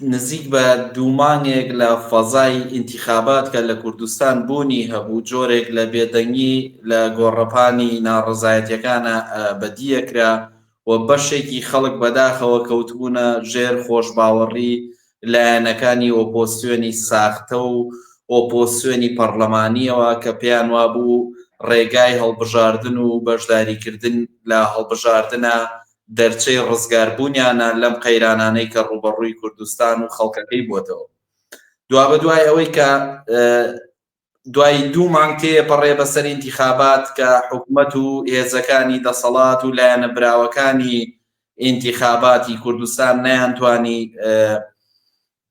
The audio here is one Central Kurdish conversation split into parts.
نزیک بە دوو مانگێک لە فەزای ئینتیخابات کە لە کوردستان بوونی هەبوو، جۆرێک لە بێدەنگی لە گۆڕەپانی ناڕەزایەتییەکان بەدییە کرا و بەشێکی خەڵک بەداخەوە کەوتبوونە ژێر خۆشباوەڕی لایەنەکانی ئۆپۆزسیۆنی ساختە و ئۆپۆزسیۆنی پەڕڵەمانییەوە کە پێیان وابوو ڕێگای هەڵبژاردن و بەشداریکردن لە هەڵبژاردنە دەرچەی ڕزگاربوونیانە لەم قەیرانانەی کە ڕووبەڕووی کوردستان و خەڵکەکەی بووەتەوە. دوابەدوای ئەوەی کە دوای دوو مانگ تێپەڕێ بەسەر ئینتیخابات کە حکومەت و هێزەکانی دەسەڵات و لایەنە براوەکانی ئینتیخاباتی کوردستان نەیانتوانی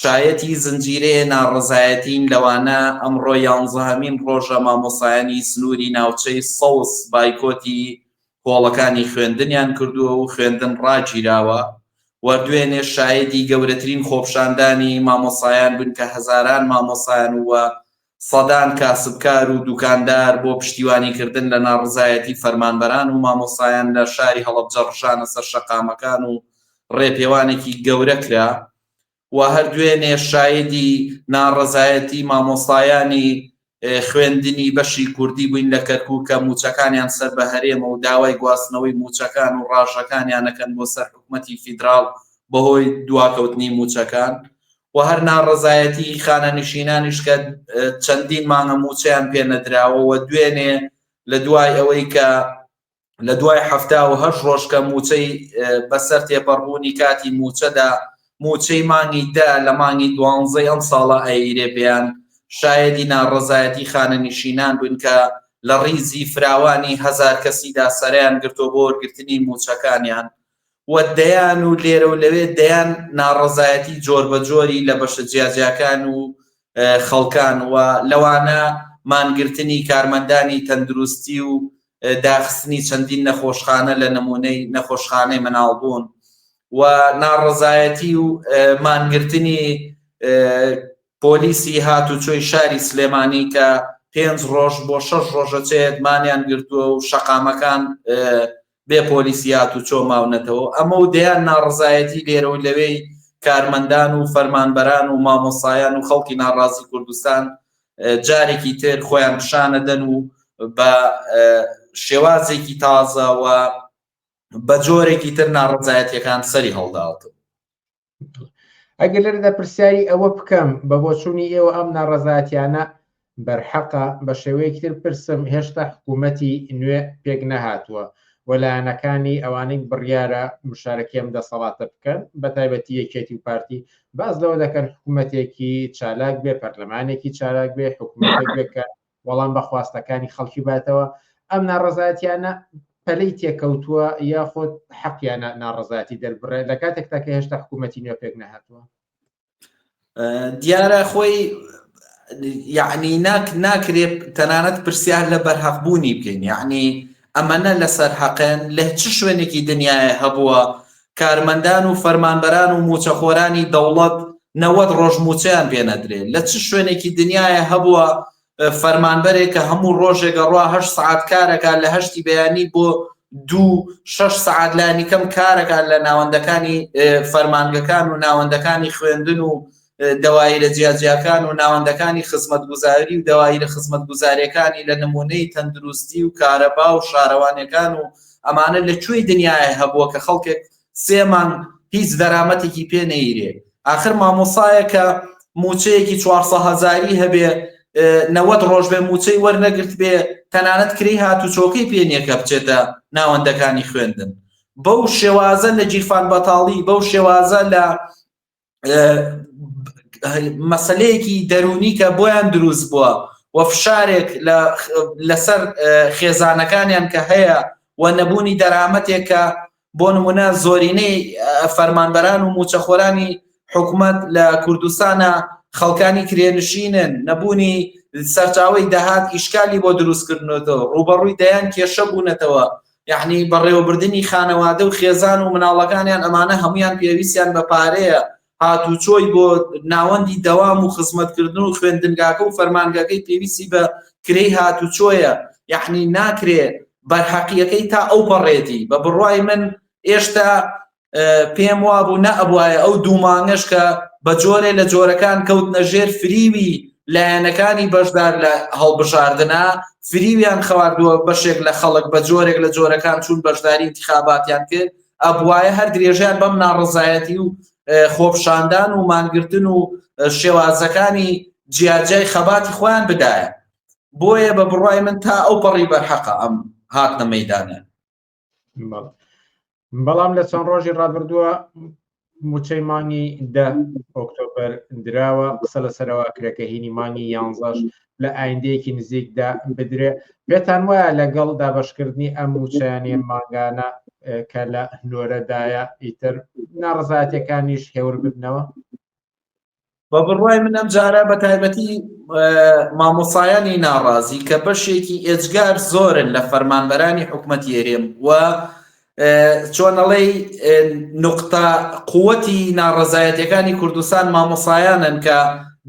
شایەتی زنجیرەیە ناڕەزایەتین لەوانە ئەمڕۆ یانزەهەمین ڕۆژە مامۆستایانی سنوری ناوچەی سەوز بایکۆتی هۆڵەکانی خوێندنیان کردووە و خوێندن ڕاگیراوە و دوێنێ شایەدی گەورەترین خۆپشاندانی مامۆستایان بووین کە هەزاران مامۆستایان و سەدان کاسبکار و دوکاندار بۆ پشتیوانی کردن لە ناڕەزایەتی فەرمانبەران و مامۆستایان لە شاری هەڵەبجە ڕژانە سەر شەقامەکان و ڕێپێوانێکی گەورە کرا. و هەر دوێنێ شایدی ناڕەزایەتی مامۆستایانی خوێندنی بەشی کوردی بووین لە کەرکوک کە مووچەکانیان سەر بە هەرێمە و داوای گواستنەوەی مووچەکان و ڕاژەکانیان ئەکەن بۆ سەر حکومەتی فیدراڵ بەهۆی دواکەوتنی مووچەکان و هەر ناڕەزایەتی خانەنشینانیش کە چەندین مانگە مووچەیان پێ نەدراوە و دوێنێ لە دوای ئەوەی کە لە دوای حەفتا و هەشت ڕۆژ کە مووچەی بەسەر تێپەڕبوونی کاتی مووچەدا مووچەی مانگی دە لە مانگی دوانزەی ئەم ساڵە ئەیرێ پێیان شایەدی ناڕەزایەتی خانەنشینان بوون کە لە ڕیزی فراوانی هەزار کەسیدا سەرەیان گرتووە بۆ وەرگرتنی مووچەکانیان و دەیان و لێرە و لەوێ دەیان ناڕەزایەتی جۆربەجۆری لە بەشە جیاجیاکان و خەڵکان و لەوانە مانگرتنی کارمەندانی تەندروستی و داخستنی چەندین نەخۆشخانە لە نمونەی نەخۆشخانەی مناڵبوون و ناڕەزایەتی و مانگرتنی پۆلیسی هاتوچۆی شاری سلێمانی کە پێنج ڕۆژ بۆ شەش ڕۆژەچێت مانیان گرتووە و شەقامەکان بێ پۆلیسی هاتوچۆ ماونەتەوەو ئەمەو دەیان ناڕەزایەتی لێرەو لەوێی کارمەندان و فەرمانبەران و مامۆستایان و خەڵکی ناڕازی کوردستان جارێکی تر خۆیان پیشانەدەن و بە شێوازێکی تازە و بە جۆرێکی تر ناڕەزایەتیەکان سەری هەڵداوەتەوە. ئەگەر لەرەدا پرسیاری ئەوە بکەم بە بۆچوونی ئێوە ئەم ناڕەزاتیانە بەرحەقە بە شێوەیەکی تر پرسم هێشتا حکوومەتی نوێ پێک نەهاتووە وەلایەنەکانی ئەوانەی بڕیارە مشارەکەم دەسەڵاتە بکەن بە تایبەتی یەکێتی و پارتی باز لەوە دەکەن حکوومەتێکی چالاک بێ پەرلەمانێکی چالاک بێ حکوومەتێک بێکە وەڵام بە خواستەکانی خەڵکی باتەوە، ئەم ناڕەزایەتیانە پەلەی تێکەوتووە یاخود حەقیانە ناڕەزایەتی دەربڕێت لە کاتێکتا کە هێشتا حکوومەتی نوێ پێک نەهاتووە دیارە خۆی یعنی ناک ناکرێت تەنانەت پرسیار لە بەرهەقبوونی بکەین یعنی ئەمەە لەسەر حەقێن لە چ شوێنێکی دنیاە هەبووە کارمەندان و فەرمانبەران و موچەخۆرانی دەوڵەت نەوەد ڕۆژ موچەیان پێ نەدرێ لە چ شوێنێکی دنیایە هەبووە فەرمانبەرێک کە هەموو ڕۆژێک ئەڕوا هەشت سەعات کارەکە لە هەشتی بەیانی بۆ دوو شەش سەعات لانیکەم کارەکە لە ناوەندەکانی فەرمانگەکان و ناوەندەکانی خوێندن و دەوایرە جیاجیاکان و ناوەندەکانی خزمەتگوزاری و دەوایرە خزمەتگوزاریەکانی لە نمونەی تەندروستی و کارەبا و شارەوانیەکان و ئەمانە لە کوێی دنیایە هەبووە کە خەڵکێک سێ مانگ هیچ دەرامەتێکی پێ نەیرێ ئاخر مامۆسایە کە موچەیەکی چوارسە هەزاری هەبێ نەوەت ڕۆژ بێ موچەی وەرنەگرت بێ تەنانەت کری هات و چۆکەی پێنیەکە بچێتە ناوەندەکانی خوێندن بەو شێوازە لە جیرفان بەتاڵی بەو شێوازە لە مەسلەیەکی دەرونی کە بۆیان دروست بووە و فشارێک لەسەر خێزانەکانیان کە هەیە و نەبوونی دەرامەتێکە بۆ نمونە زۆرینەی فەرمانبەران و موچەخۆرانی حکوومەت لە کوردستانە خەڵکانی کرێنشینن نەبوونی سەرچاوی دەهات ئیشکالی بۆ دروستکردنەوە ڕوبەڕووی دەیان کێشە بوونەتەوە یەعنی بەڕێوەبردنی خانەوادە و خێزان و مناڵەکانیان ئەمانە هەموویان پێویستیان بە پارەیە هاتوچۆی بۆ ناوەندی دەوام و خزمەتکردن و خوێندنگاکە و فەرمانگەکەی پێویستی بە کرێی هاتوچۆیە یەعنی ناکرێ بەرهەقیەکەی تا ئەو پەڕێتی بە بڕوای من ئێشتا پێم وابوو نە ئەبواە ئەو دوو مانگەش کە بە جۆرێ لە جۆرەکان کەوت نەژێر فریوی لایەنەکانی بەشدار لە هەڵبژاردنە فریویان خواردووە بەشێک لە خەڵک بە جۆرێک لە جۆرەکان چون بەشداری انتخاباتیان کرد ئەبواە هەر درێژیان بەم ناڕزایەتی و خۆپشاندان و مانگرتن و شێوازەکانی جیاجای خەباتی خۆیان بدایە بۆیە بە بڕای من تا ئەو پەڕی بەرحەقە ئەم هاتنە مەدانە بەڵام لە چەند ڕۆژی ڕابردووە موچەی مانگی دە ئۆکتۆبەر دراوە قسە لەسەرەوە کرێکە هینی مانگی یانزەش لە ئایندەیەکی نزیکدا بدرێ بێتان وایە لەگەڵ دابشکردنی ئەم موچەیانێ ماگانە کە لە نۆرەدایە ئیتر ناڕزاتەکانیش هێور بدنەوە بە بڕوای من ئەم جارە بە تایبەتی مامۆسایانی ناڕازی کە بەشێکی ئێجگار زۆرن لە فەرمانبەرانی حکوومەتی هەرێم و چۆنەڵی نقطە قوتی ناڕزایەتەکانی کوردستان مامۆسایانن کە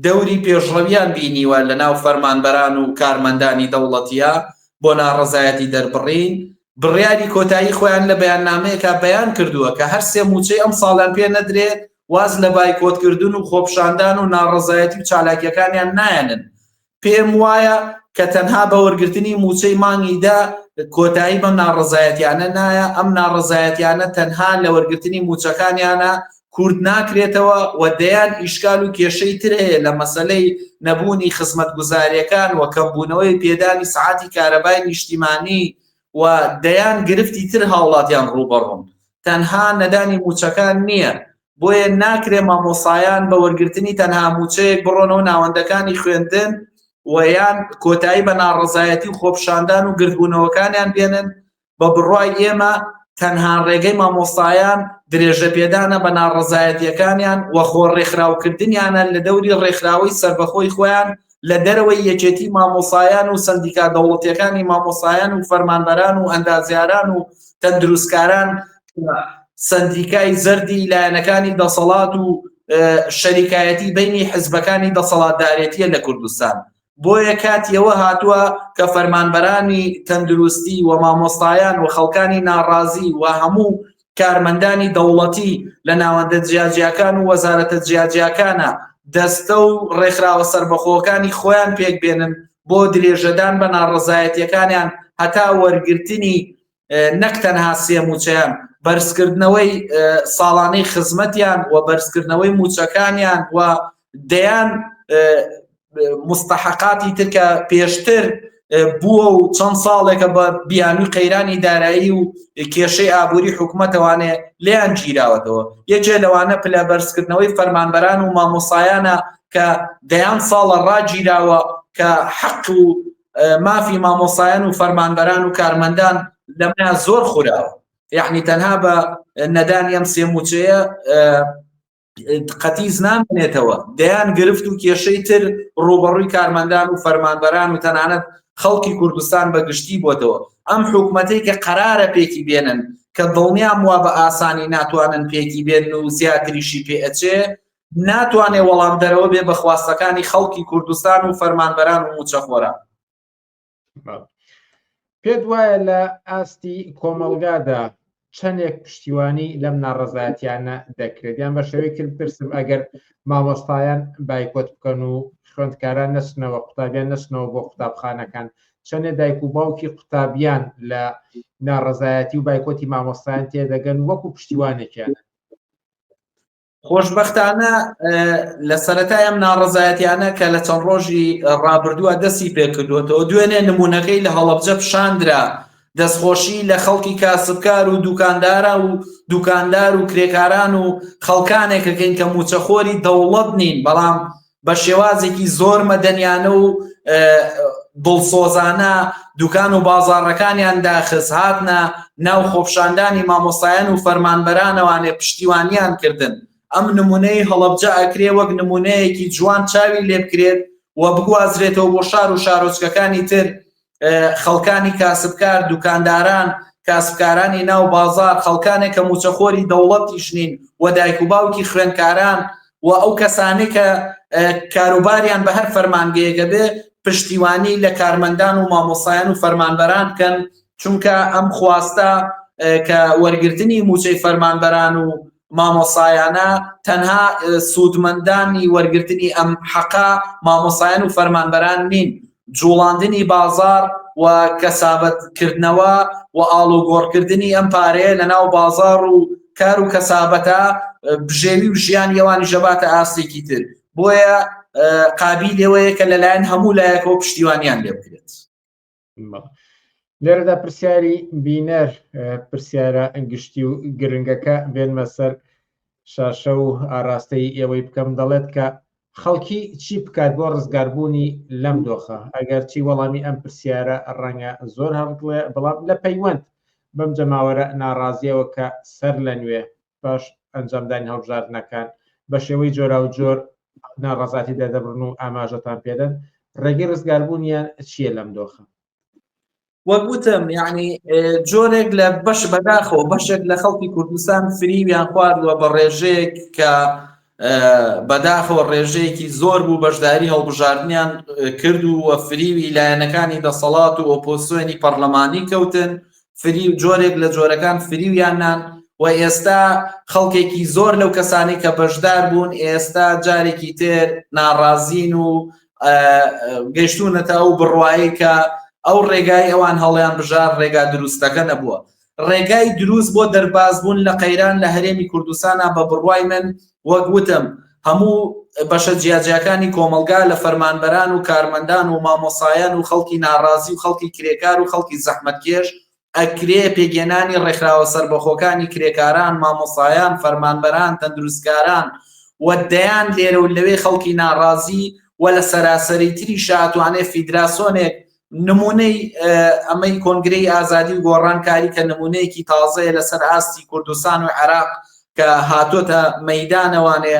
دەوری پێشڕەویان بینیوە لە ناو فەرمانبەران و کارمەندانی دەوڵەتە بۆ ناڕزایەتی دەربڕین بڕیاری کۆتایی خۆیان لە بەیاننامەیەکە بەیان کردووە کە هەر سێ موچەی ئەم ساڵیان پێ نەدرێت واز لە بایکۆتکردن و خۆپشاندان و ناڕەزایەتی و چالاکیەکانیان نایەنن، پێم وایە کە تەنها بە وەرگرتنی موچەی مانگی دە کۆتایی بەم ناڕەزایەتیانە نایە، ئەم ناڕەزایەتیانە تەنها لە وەرگرتنی موچەکانیانە کورت ناکرێتەوە و دەیان ئیشکال و کێشەی تر هەیە لە مەسەلەی نەبوونی خزمەتگوزاریەکان و کەمبوونەوەی پێدانی سەعاتی کارەبای نیشتیمانی و دەیان گرفتی تر هاوڵاتیان ڕووبەڕوون، تەنها نەدانی مووچەکان نییە، بۆیە ناکرێ مامۆستایان بە وەرگرتنی تەنها مووچەیەک بڕۆنەوە ناوەندەکانی خوێندن و یان کۆتایی بە ناڕەزایەتی و خۆپیشاندان و گردبوونەوەکانیان بێنن، بە بڕوای ئێمە تەنها ڕێگەی مامۆستایان درێژەپێدانە بە ناڕەزایەتییەکانیان و خۆ ڕێکخراوکردنیانە لە دەوری ڕێکخراوەی سەربەخۆی خۆیان لە دەرەوەی یەکێتی مامۆسایان و سەندیکا دەوڵەتیەکانی مامۆسایان و فەرمانبەران و ئەندازیاران و تەندروستکاران سەندیکای زەردی لایەنەکانی دەسەڵات و شەریکایەتی بینی حزبەکانی دەسەڵاتدارێتیە لە کوردستان بۆیە کاتیەوە هاتووە کە فەرمانبەرانی تەندروستی و مامۆستایان و خەڵکانی ناڕازی و هەموو کارمەندانی دەوڵەتی لە ناوەندە جیاجیاکان و وەزارەتە جیاجیاکانە دەستە و ڕێکخراوە سەربەخۆکانی خۆیان پێکبێنن بۆ درێژەدان بە ناڕەزایەتیەکانیان هەتا وەرگرتنی نەک تەنها سێ موچەیان بەرزکردنەوەی ساڵانەی خزمەتیان و بەرزکردنەوەی موچەکانیان و دەیان مستحقاتی تر کە پێشتر بووە و چەند ساڵێکە بە بیانوی قەیرانی دارایی و کێشەی ئابووری حکوومەتەوانێ لیان گیراوەتەوە یەکێ لەوانە پلە بەرزکردنەوەی فەرمانبەران و مامۆسایانە کە دەیان ساڵە ڕاگیراوە کە حەق و مافی مامۆسایان و فەرمانبەران و کارمەندان لەمە زۆر خوراوە یعنی تەنها بە نەدان ئەم سێموچەیە قەتیس نامێنێتەوە دەیان گرفت و کێشەی تر ڕوبەڕووی کارمەندان و فەرمانبەران و تەنانەت خەڵکی کوردستان بە گشتی بۆتەوە ئەم حکوومەتەی کە قەرارە پێکی بێنن کە دڵنیام وا بە ئاسانی ناتوانن پێکی بێن و زیاتریشی پێ ئەچێ ناتوانێ وەڵام دەرەوە بێ بەخواستەکانی خەڵکی کوردستان و فەرمانبەران و موچەخۆران پێت وایە لە ئاستی کۆمەلگادا چەندێک پشتیوانی لەم ناڕزایەتیانە دەکرێت یان بە شێوەی کرد پرسم ئەگەر مامۆستایان بایکۆت بکەن و خوێندکاران نەچنەوە قوتابیان نەچنەوە بۆ قوتابخانەکان چەندێ دایک و باوکی قوتابیان لە ناڕزایەتی و بایکۆتی مامۆستایان تێدەگەن وەکو پشتیوانێکیان خۆشبەختانە لە سەرەتای ئەم ناڕەزایەتیانە کە لە چەند ڕۆژی ڕابردووە دەستی پێکردوێتەوە دوێنێ نمونونەکەی لە هەڵەبجە پیشاندرا دەستخۆشی لە خەڵکی کاسبکار و دوکاندارە و دوکاندار و کرێکاران و خەڵکانێکەکەین کە موچەخۆری دەوڵەت نین بەڵام بە شێوازێکی زۆر مەدەنیانە و دڵسۆزانە دوکان و بازاڕەکانیان داخز هاتنە ناو خۆپشاندانی مامۆستایان و فەرمانبەرانەوانێ پشتیوانیان کردن ئەم نمونەی هەڵەبجە ئەکرێ وەک نمونەیەکی جوان چاوی لێبکرێت و بگوازرێتەوە بۆ شار و شارۆچکەکانی تر خەڵکانی کاسبکار دوکانداران کاسبکارانی ناو بازار خەڵکانێک کە موچەخۆری دەوڵەتیش نین و دایک و باوکی خوێندکاران و ئەو کەسانی کە کاروباریان بە هەر فەرمانگەیەگە بێ پشتیوانی لە کارمەندان و مامۆسایان و فەرمانبەران بکەن چونکە ئەم خواستە کە وەرگرتنی موچەی فەرمانبەران و مامۆسایانە تەنها سوودمەندانی وەرگرتنی ئەم حەقە مامۆسایان و فەرمانبەران نین جوڵاندنی بازار و کەسابەتکردنەوە و ئاڵوگۆڕکردنی ئەم پارەیە لە ناو بازار و کار و کەسابەتە بژێوی و ژیان یەوانی ژەباتە ئاستێکی تر بۆیە قابی لێوەیە کە لەلایەن هەموو لایەکەوە پشتیوانیان لێ بکرێت لێرەدا پرسیاری بینەر پرسیارە گشتی و گرنگەکە بێنمە سەر شاشە و ئاراستەی ئێوەی بکەم دەڵێت کە خەڵکی چی بکات بۆ ڕزگاربوونی لەم دۆخە ئەگەر چی وەڵامی ئەم پرسیارە ڕەنگە زۆر هەڵکڵێ بەڵام لە پەیوەند بەم جەماوەرە ناڕازیەوە کە سەر لە نوێ باش ئەنجامدانی هەڵبژاردنەکان بە شێوەی جۆراوجۆر ناڕازاتی دەدەبرن و ئاماژەتان پێدەن ڕێگەی ڕزگاربوونیان چییە لەم دۆخە وەک وتم یعنی جۆرێک لە بەش بەداخەوە بەشێک لە خەڵکی کوردستان فریویان خواردووە بە ڕێژەیەک کە بەداخەوە ڕێژەیەکی زۆر بوو بەشداری هەڵبژاردنیان کرد و وە فریوی لایەنەکانی دەسەڵات و ئۆپۆسیۆنی پەرلەمانی کەوتن فری و جۆرێک لە جۆرەکان فریویان نان و ئێستا خەڵکێکی زۆر لەو کەسانی کە بەشدار بوون ئێستا جارێکی تر ناڕازین و گەشتونەتە ئەو بڕواایی کە ئەو ڕێگای ئەوان هەڵیان بژار ڕێگا دروستەکە نەبووە ڕێگای دروست بۆ دەربازبوون لە قەیران لە هەرێمی کوردستانە، بە بڕوای من وەک وتم هەموو بەشە جیاجیاکانی کۆمەڵگا لە فەرمانبەران و کارمەندان و مامۆسایان و خەڵکی ناڕازی و خەڵکی کرێکار و خەڵکی زەحمەتکێش ئەکرێ پێگێنانی ڕێکخراوە سەربەخۆکانی کرێکاران، مامۆسایان، فەرمانبەران، تەندروستکاران و دەیان لێرە و لەوێ خەڵکی ناڕازی و لە سەراسەری تریشا ئەتوانێ فیدراسۆنێک نمونەی ئەمەی کۆنگرەی ئازادی و گۆڕانکاری کە نمونەیەکی تازەیە لەسەر ئاستی کوردستان و عێراق کە هاتۆتە مەدانەوانێ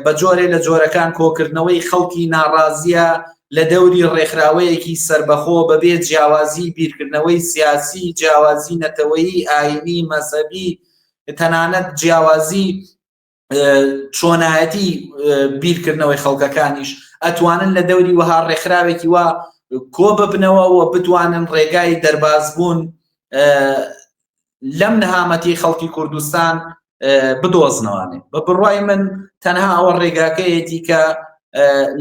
بە جۆرێ لە جۆرەکان کۆکردنەوەی خەڵکی ناڕازیە لە دەوری ڕێکخراوەیەکی سربەخۆ بەبێ جیاوازی بیرکردنەوەی سیاسی جیاوازی نەتەوەیی ئاینی مەسەبی تەنانەت جیاوازی چۆنایەتی بیرکردنەوەی خەڵکەکانیش ئەتوانن لە دەوری وەها ڕێکخراوێکی وا کۆ ببنەوە و بتوانن ڕێگای دەرباز بوون لەم نەهامەتی خەڵکی کوردستان بدۆزنەوانێ بە بڕای من تەنها ئەوە ڕێگاکەیەتی کە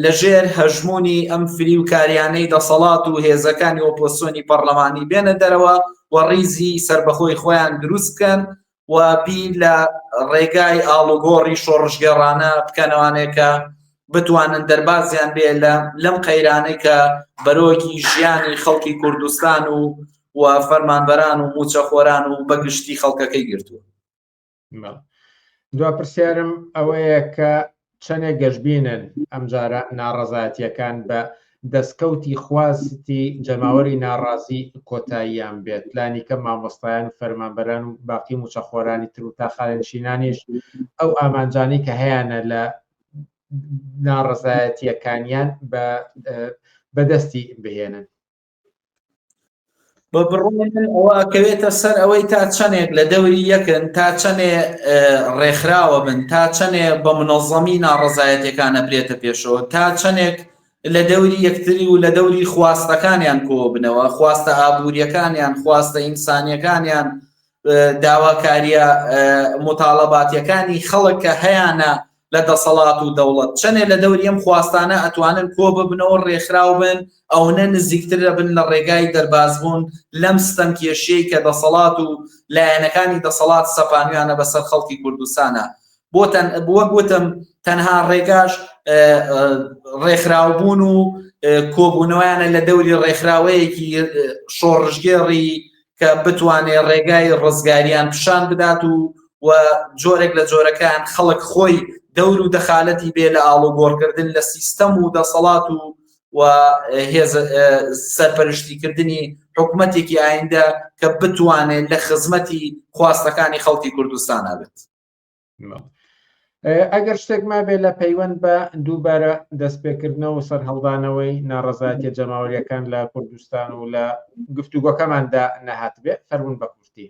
لەژێر هەژمونی ئەم فری و کاریانەی دەسەڵات و هێزەکانی ئۆپۆسیۆنی پەرلەمانی بێنە دەرەوە و ڕیزی سربەخۆی خۆیان دروستکەن و بی لە ڕێگای ئاڵوگۆڕی شۆڕژگەڕانە بکەنەوانێکە بتوانن دەربازیان بێ لە لەم قەیرانەی کە بەرۆکی ژیانی خەڵکی کوردستان و و فەرمانبەران و موچەخۆران و بەگشتی خەڵکەکەی گرتووە دو پرسیارم ئەوەیە کە چەنێ گەشبینن ئەمجارە ناڕەزایەتیەکان بە دەستکەوتی خواستی جەماوەری ناڕازی کۆتاییان بێت لانیکەم مامۆستایان و فەرمانبەران و باقی موچەخۆرانی تر و تاخانشینانیش ئەو ئامانجانی کە هەیەە لە ناڕەزایەتیەکانیان بە بەدەستی بهێنن بە بڕۆن ئەوە ئەکەوێتە سەر ئەوەی تا چەندێک لە دەوری یەکن تا چەندێ ڕێکخراوە بن تا چەندێ بە منەظەمی ناڕزایەتەکان ئەبرێتە پێشەوە تا چەندێک لە دەوری یەکتری و لە دەوری خواستەکانیان کۆ بنەوە خواستە ئابوووریەکانیان خواستە ئینسانیەکانیان داواکاریە مطالباتیەکانی خەڵک کە هەیانە لە دەسەڵات و دەوڵەت چەنێ لە دەوری ئەم خواستانە ئەتوانن کۆ ببنەوە ڕێکخراو بن ئەونە نزیکتر ئەبن لە ڕێگای دەرباز بوون لەم ستەم کێشیەی کە دەسەڵات و لایەنەکانی دەسەڵات سەپانویانە بە سەر خەڵکی کوردستانە بۆ تەن بووە گوتم تەنها ڕێگاش ڕێکخراوبوون و کۆبوونەوەیانە لە دەوری ڕێکخراوەیەکی شۆڕژگێڕی کە بتوانێ ڕێگای ڕزگاریان پیشان بدات و و جۆرێک لە جۆرەکان خەڵک خۆی دەور و دەخالەتی بێ لە ئاڵوگۆڕکردن لە سیستەم و دەسەڵات و و هێز سەرپەرشتیکردنی حکوومەتێکی ئایندە کە بتوانێت لە خزمەتی خواستەکانی خەڵکی کوردستان نابێت. ئەگەر شتێک ما بێ لە پەیوەند بە دووبارە دەستپێکردنەوە و سەررهڵدانەوەی ناڕزایەتە جەماوەریەکان لە کوردستان و لە گفتوگۆکەماندا نەهات بێ فەرمون بە کوردی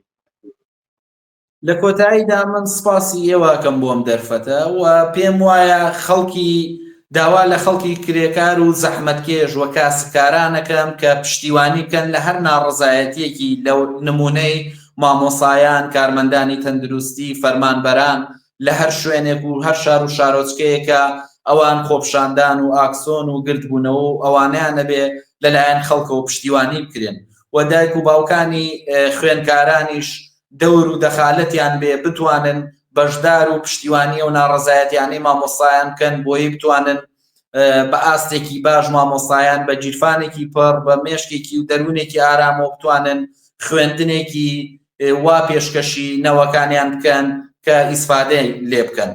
لە کۆتاییدا من سپاسی ئێواکەم بۆم دەرفەتە و پێم وایە خەڵکی داوا لە خەڵکی کرێکار و زەحمەتکێش و کاسبکارانەکەم کە پشتیوانی بکەن لە هەر ناڕزایەتیەکی لە نمونەی مامۆسایان، کارمەندانی تەندروستی، فەرمانبەران لە هەر شوێنێک و هەر شار و شارۆچکەیەکە ئەوان خۆپشاندان و ئاکسۆن و گردبوونەوە و ئەوانەیان ئەبێ لە لایەن خەڵکەوە پشتیوانی بکرێن و دایک و باوکانی خوێنکارانیش دەور و دەخالەتیان بێ بتوانن بەشدار و پشتیوانی ئەو ناڕەزایەتیانەی مامۆسایان بکەن بۆیی بتوانن بە ئاستێکی باش مامۆسایان بە گیرفانێکی پڕ بە مێشکێکی و دەروونێکی ئارامەوە بتوانن خوێندنێکی وا پێشکەشی نەوەکانیان بکەن کە ئیسفادەی لێ بکەن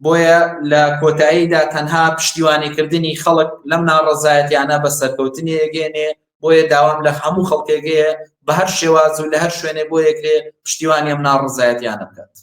بۆیە لە کۆتاییدا تەنها پشتیوانیکردنی خەڵک لەم ناڕەزایەتیانە بە سەرکەوتنی ئەگەێنێ بۆیە داوام لە هەموو خەڵکێگەیە بە هەر شێواز و لە هەر شوێنێ بۆ یەکێ پشتیوانی ئەم ناڕزایەتیانە بکات